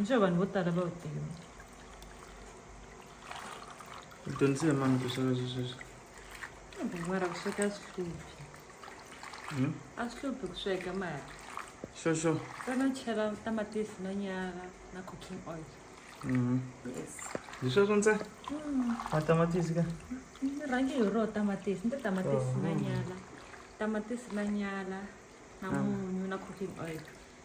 nxo vanhu vo tala va wu tiva u dyondzise mani ku sweka swi sweswi mara ku sweka swi hluphi hmm? a swi hluphi ku sweka mara xoxo kana chela tamatisi na nyala na cooking oil hmm. yes hi sweswo ntsena hmm. matamatisi ka ni rhange hi ro tamatisi ni tamatisi na oh. nyala tamatisi na nyala na munyu na cooking oil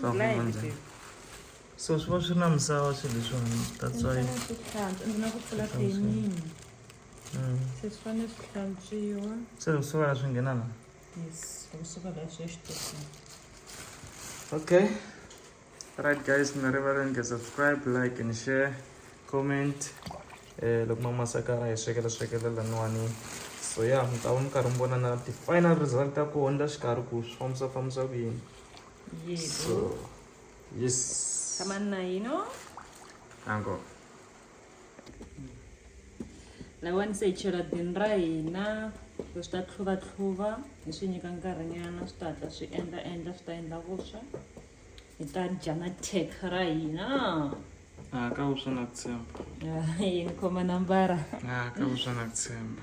swa ku manjhani so swi va swi na misava swilo leswiwani that's why swi hlantswa ndzi na ku pfula denini mm. se swi fanele swi hlantswiwa se kusuka la swi nghena la yes kusuka la swi ya xitokweni okay right guys mi nga rivali ni nga subscribe like and share comment eh loko ma masakara hi swekela swekela laniwani so ya mi ta va mi karhi mi vona na ti-final result ta kona la xikarhi ku swi fambisa fambisa ku yini So, yes. Sama na yi no? Encore. lawa ni se hi chela dini ra hina so swi ta tlhuvatlhuva hi swi nyika nkarhinyana swi ta hatla swi endla endla swi ta endla vuswa hi ta dya na tek ra hina a ah, ka vuswa na ku tshemba ah, yini khoma nambara a ah, ka vuswa na ku tshemba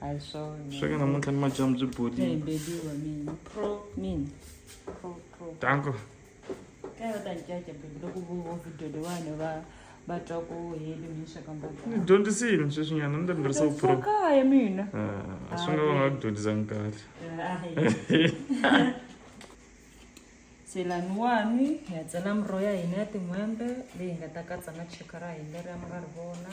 a hi swona sweka namuntlha ni madyambu byi bolile baby wa mina pro mina pro pro danko ka va ta ncaca baby loko vo vo video leyiwani va va twa ku heli mi sweka mboga ni dyondzisile sweswinyana ni ta ni tirhisa pro kaya mina ah, swi nga va nga ku dyondzisanga kahle selaniwani hi ya tsala miroho ya hina ya tin'hwembe leyi nga ta katsa na cheka ra hina leri a mi nga ri vona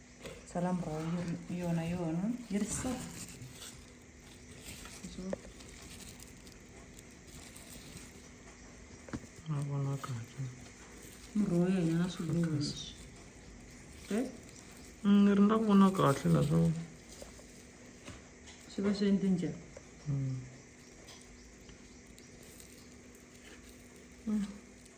salam raw yona yona yi ri so ma vona kahle muroho ya hina na swiluva leswi eh? mm, ni ri nga vona kahle naswona swi va swi endle njhani mm. mm.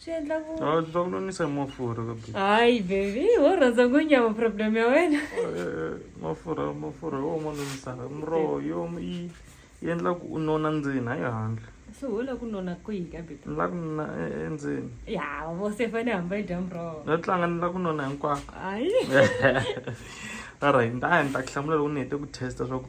swi endla ku a swi ta ku nonisa hi mafurha ka baby hayi baby wo rhandza ku nyama problem ya wena Eh, mafurha mafurha yo ma nonisaka miroho yo yi yi endla ku u nona ndzeni hayi handle so wo la ku nona kwihi ka baby ni la ku nona e- endzeni ya vo se fane hamba yi dya muroho no tlanga ni la ku nona hinkwako hayi alright ni ta ya ni ta ku hlamula loko ni hete ku testa swa ku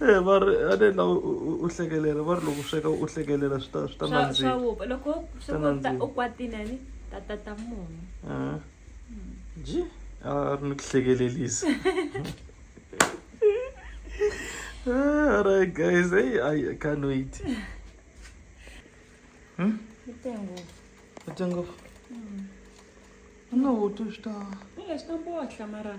e va ri a ni la u hlekelela va ri loko sweka u hlekelela swi ta swi ta nandzika loko u kwatile ni ta ta ta munhu hmm. ji a ri ni ku hlekelelisa all right guys hey i can't wait hmm? Tengo. Tengo. Mm. No, tu sta. Io sto un po' a chiamare.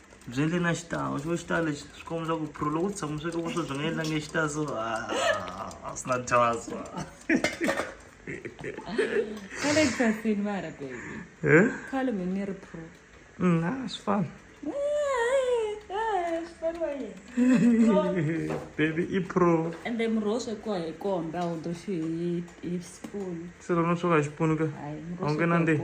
byi endle na xitalo xo xitalo lexi swi komba swa ku pro loko u tshama sweka vuswa byi nga endlange xitalo so a swi na dyasa khale khasini mara baby khale mi ni ri pro na swi fana baby i pro ende murhi wo swekiwa hi komba wu doxiwi hi spoon se lona swo ka hi xipunu ka a wu nge nandzeni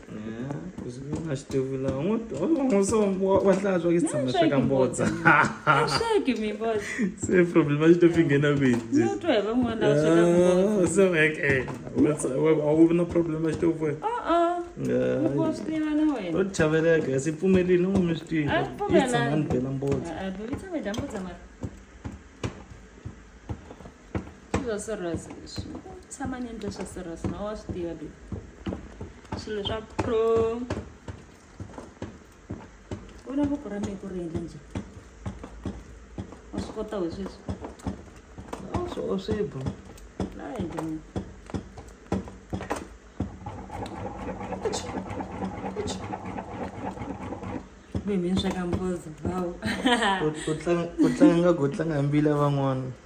na xitivula n'wi n'wi so wa hlantswa ke tshama swa ka mbodza swaki mi mbodza se problem a xi to fi nghena kwihi no twa hi van'wana va sweka mbodza so eke a wu na problem a xi to vo wa swi tiva na wena u chaveleka si pfumelini u mi swi tiva i tshama ni bela mbodza a bela mbodza mara Swilo swa serious leswi. Tshama ni endle swa serious na wa swi tiva baby. Swilo swa pro. Vona voko ra mina ku ri endla njhani. Wa swi kota we sweswi. A swi oswi bro. La endla mina. Mimi ni sweka mbozo. Wow. U- u tlanga- u tlanga nga ku u tlanga hi mbila van'wana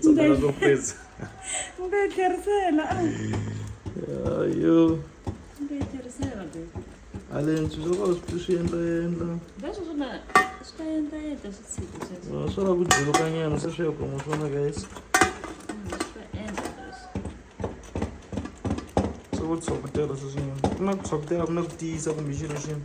tsakela swo pesa mbe tlherisela ayo mbe tlherisela be alenswi swo ka swi swi endla endla leswi swi na swi ta endla endla swi tshika sweswo swa la ku juluka nyana se swi ya kuma swona guys ku tshwa ku tirha sweswinyana ku na ku tshwa ku tirha ku na ku tiyisa kumbe xilo xini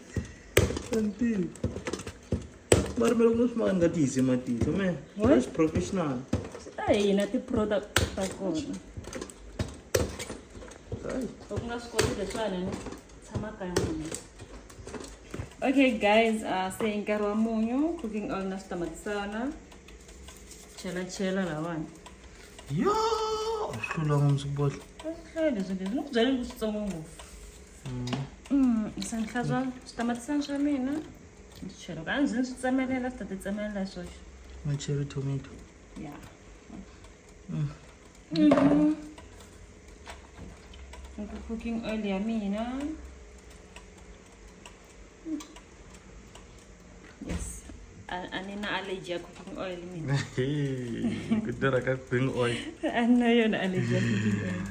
Sentile. Mara mara kuno sma nga ti hise matihlo me. That's professional. A hina ti product ta kona. Right. Loko nga swi koti leswiwani ni tshama kaya munhu. Okay guys, uh, se i nkarhi wa munyu, cooking oil na switamatisana. Chela chela lawani. Yo, hlula ngomsibodla. Swi hlaya leswi leswi ni ku byela leswitsongo ngopfu. Mm. ndzi ta hlantswa switamatisi swa mina ndzi chela ka ndzi ndzi tsemelela swi ta ti tsemelela hi swoxe na cherry tomato ya Mm. Mhm. Nku cooking oil ya mina yes ani na allergy ya cooking oil ni kudara ka cooking oil anna yona allergy ya cooking oil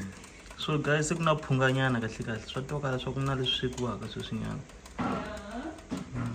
so guys ku na phunga nyana kahle kahle swa toka leswaku ku na leswi swekiwaka sweswi nyana mm.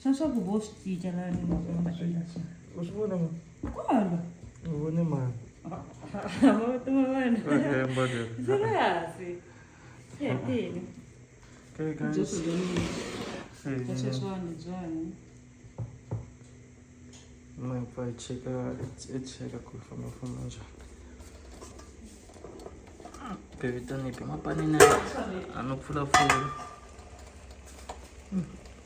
Swa swa ku vo swi cinca la ni mhaka va nga endla swa u swi vona ma kolo u vone mani mavito ma vana siriyasi yetini jesu loniasweswani byani mapfa i cheka i cheka ku fambafamba njhani bevitanipi mapanini a no pfulapfula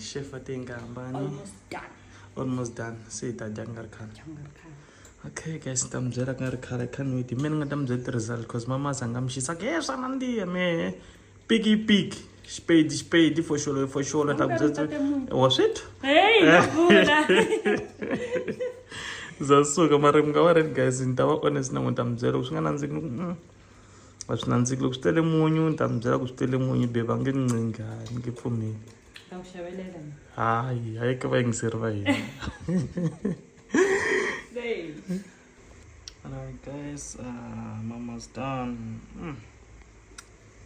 chef ate nga hambani almost done se hi ta dya ku nga ri khale okay guys ni ta mi byela ku nga ri khale canwit me ni nga ta mi byela ti-result because mama a za nga mi xisa ke swa nandziha mehe piki piki spade spade foxolo i foxolo ta ku byetsa wa swi twa Hey, no vula. za suka mara mi nga va red guys ni ta va honest na n'wi ta mi byela loko swi nga nandziki ni ku mm, a swi nandziki loko swi tele munyu ni ta mi byela ku swi tele munyu be va nge ni ncinga a ni nge pfumeli Ta ku xavelela. hayi hayi ka vayingiseri va hina Hey. Alright guys, uh, mama's done. Mm.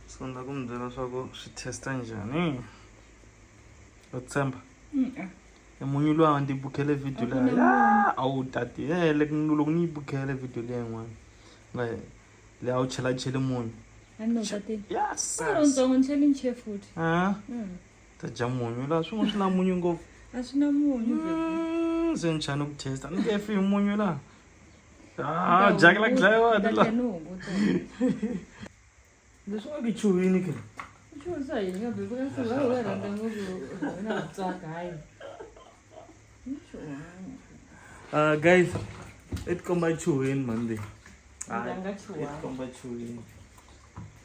So ndza ku mi byela swa ku swi testa njhani. U tshemba? Mm. Ah. E munyu luwa ndzi bukhele video leyi. Ya, a wu tati. Eh, loko ni loko ni bukhele video leyi n'wana. Nga le a wu chela chele munyu. Ani no tati. Yes. Ro ntsongo ncheli nche futhi. Ah. Mm. ta dya munyu laha swin'wana swi na munyu ngopfu a swi na munyu mm, se ni chani ku testa ni nge fi hi munyu laha ah, dyaka la ku dlayiwa ni laha leswi nga ku chuhini ke chuhisa yini nga bebe ka sula u rhandza ngopfu na tsaka hayi Uh, guys, it come by chewing Monday. It come by chewing.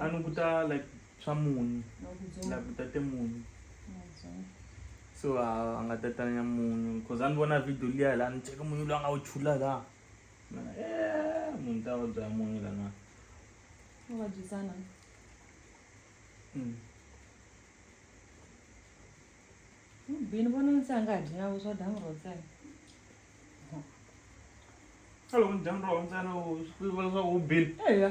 a ni kuta like swa munyu like kutate munyu so a nga tatanya munyu cause a ni vona video liya la ni cheke munyu loyi a nga wu chula la eh, munhu ta vabya ya munyu lana vabyisana hmm. bini vona ndzi a nga dyi na vuswa dyambu ro ntsena a loko ni dyambu ro ntsena swi vula leswaku u bini eya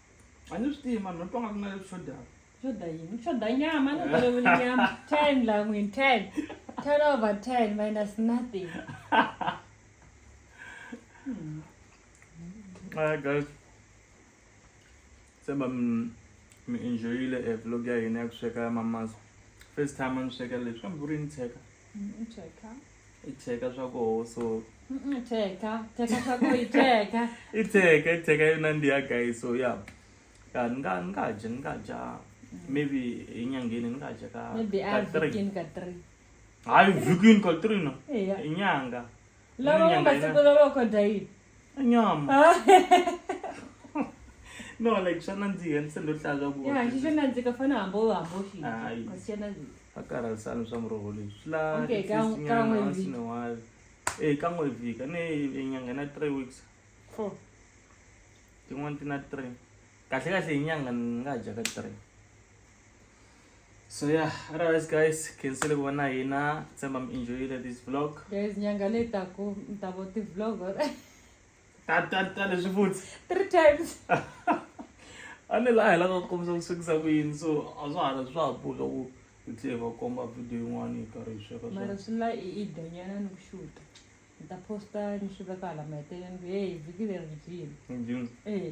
a ni swi tivi mani no twa nga ku na leswi swo dava shoda yini shoda nyama a ni vulavuli nyama ten la n'wini ten ten over ten minus nothing Hi guys. Seba mi enjoyile e vlog ya hina ya ku sweka ya mama's. First time a ni sweka leswi kambe ku ri ni tsheka. Mm, i cheka swa koho so cheka cheka swa koho i cheka i cheka i cheka yona ndi ya guy so ya ya ni nga ni nga dya ni nga dya mm. maybe enyangeni ni nga dya ka maybe a vikini ka three hayi vikini ka three no inyanga lava va masiku lava kodya yini a nyama no like swa nandziha ni se ndo hlaya swa ku ya xi xo nandzika fana hambo hambo xi Hayi. kasi xi nandzika a karhalisani swa muroho leyi swi la Okay, ka- ka n'we kan'we vhiki. sinewali e ka n'we vhika ni nyanga na three weeks four tin'wana ti na three kahle kahle hi nyanga ni nga dya ka three so yeah otherwise guys khensile ku va na hina tshemba mi enjoyile this vlog guys nyanga leyi taku mi ta vo ti-vlog or ta ta ta leswi futhi three times a ni laha hi lava ku kombisa ku swekisa ku yini so a swa hala swa ha boka ku hi tlhe hi va komba video yin'wana hi karhi hi sweka mara swona swi la i i dyanyana ni ku xuta ni ta posta ni swi veka hala maheteleleni ku heyi vhiki leri byi dyini Ndzi- ee